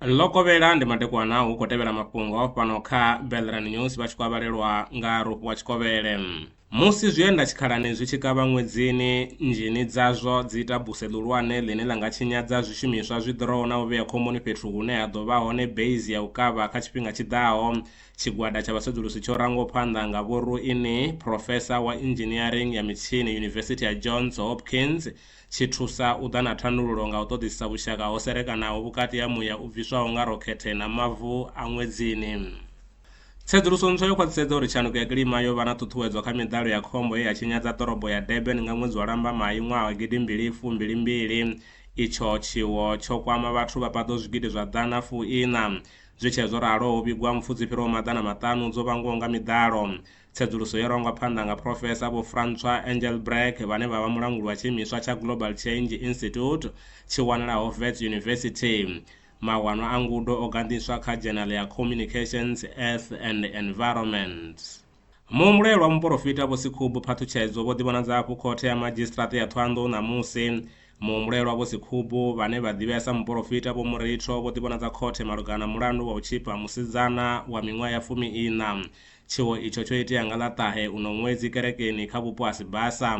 ḽo kovhela ndi madekwana hu khou tevhela mafhungo fhano kha belran news vha tshi khou avhalelwa nga rofhi wa tshikovhele musi zwienda tshikhalani zwi tshi kavha ṅwedzini nzhini dzazwo dzi ita buse ḽihulwane ḽine ḽa nga tshinyadza zwishumiswa zwi ḓuraho na u vhea khomboni fhethu hune ha ḓo vha hone base ya u kavha kha tshifhinga tshi ḓaho Tshigwada tsha vhasedzulusi tsho rangwaho phanḓa nga Vho Ruini, phrofesa wa Inzhiniering ya Mitshini Yunivesithi ya Johns Hopkins, tshi thusa u ḓa na thandululo nga u ṱoḓisisa vhushaka ho serekanaho vhukati ha muya u bviswaho nga rokhethe na mavu a ṅwedzini. Tsedzuluso ntswa yo khwaṱhisedza uri tshanduko ya kilima yo vha na ṱhuṱhuwedzo kha miḓalo ya khombo ye ya tshinyadza ḓorobo ya Durban nga ṅwedzi wa Lambamai ṅwaha wa gidi mbili fu mbili mbili. Itsho tshiwo tsho kwama vhathu vha paḓaho zwigidi zwa ḓana fu iṋa, Zwi tshee zwo ralo, ho vhigwa mpfu dzi fhiraho maḓana maṱanu dzo vhangwaho nga miḓalo. Tsedzuluso yo rangwa phanḓa nga Phrofesa Vho Francois Engelbrecht vhane vha vha mulanguli wa tshiimiswa tsha Global Change Institute tshi wanalaho Wits University. Mawanwa a ngudo o ganḓiswa kha dzhenale ya Communications, Earth and Environment. Muhumbulelwa muporofita Vho Sekhubu Phaṱhutshedzo vho ḓivhonadza afho Khothe ya Madzhisiṱiraṱa ya Thohoyandou ṋamusi. Muhumbulelwa Vho Sekhubu, vhane vha ḓivhea sa muporofita Vho Muritho, vho ḓivhonadza khothe malugana na mulandu wa u tshifha musidzana wa miṅwaha ya fumi-iṋa. Tshiwo itsho tsho itea nga ḽa ṱahe uno ṅwedzi kerekeni kha vhupo ha Sibasa.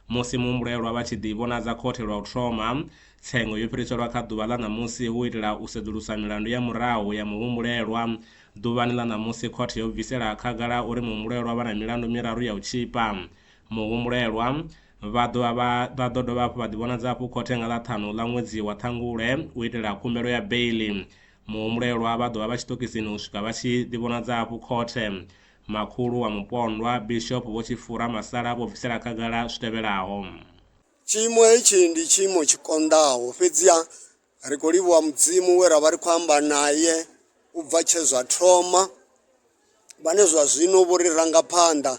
Musi muhumbulelwa vha tshi ḓivhonadza khothe lwa u thoma, tsengo yo fhiriselwa kha ḓuvha ḽa ṋamusi hu u itela u sedzulusa milandu ya murahu ya muhumbulelwa Ḓuvhani ḽa ṋamusi khothe yo bvisela khagala uri muhumbulelwa vha na milandu miraru ya u tzhipa. Muhumbulelwa vha ḓo vha vha ḓo dovha hafhu vha ḓivhonadza hafhu khothe nga ḽa ṱhanu ḽa ṅwedzi wa Ṱhangule u itela khumbelo ya beiḽi. Muhumbulelwa vha ḓo vha vha tshiṱokisini u swika vha tshi ḓivhonadza hafhu khothe. Makhulu wa mupondwa, Bishop Vho Tshifura Masala vho bvisela khagala zwi tevhelaho. Tshiimo hetshi ndi tshiimo tshi konḓaho, fhedziha Ri khou livhuwa Mudzimu we ra vha ri khou amba naye u bva tshe zwa thoma, vhane zwa zwino vho ri ranga phanḓa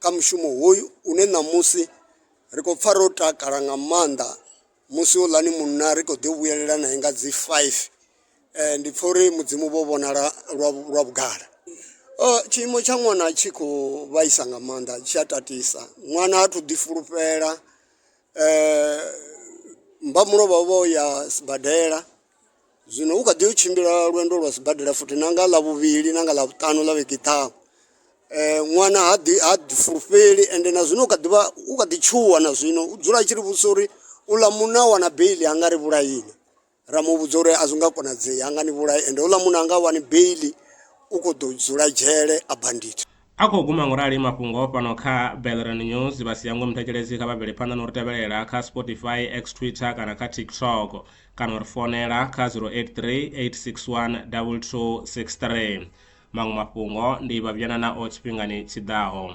kha mushumo hoyu une ṋamusi ri khou pfa ro takala nga maanḓa musi houḽani munna ri khou ḓi vhuyelela nae nga dzi five ndi pfha uri mudzimu vho vhonala lwa lwa vhugala. Tshiimo tsha ṅwana tshi khou vhaisa nga maanḓa tshi a tatisa ṅwana ha thu ḓi fulufhela. Mbamulovha vha vha vho ya sibadela zwino u kha ḓi u tshimbila lwendo lwa sibadela futhi na nga ḽavhuvhili na nga ḽavhutanu ḽa vhege i ḓaho. Ṅwana ha ḓi ha ḓi fulufheli ende na zwino u kha ḓi vha u kha ḓi tshuwa na zwino u dzula a tshi ri vhudzisa uri u ḽa muṋe a wana beiḽi ha nga ri vhulaya inwi. ra mu vhudza uri a zwi nga konadzei ha nga ni vhulai ende houḽa munna a nga wani beili u khou ḓo dzula dzhele a bandit A khou guma ngorali mafhungo fhano kha Belrand News. Vha si hangwe muthetshelesi kha vha bvele phanḓa na u ri tevhelela kha Spotify, X, Twitter kana kha TikTok kana u ri founela kha 0838612263. Maṅwe mafhungo ndi Vhavhyanana o tshifhingani tshi ḓaho.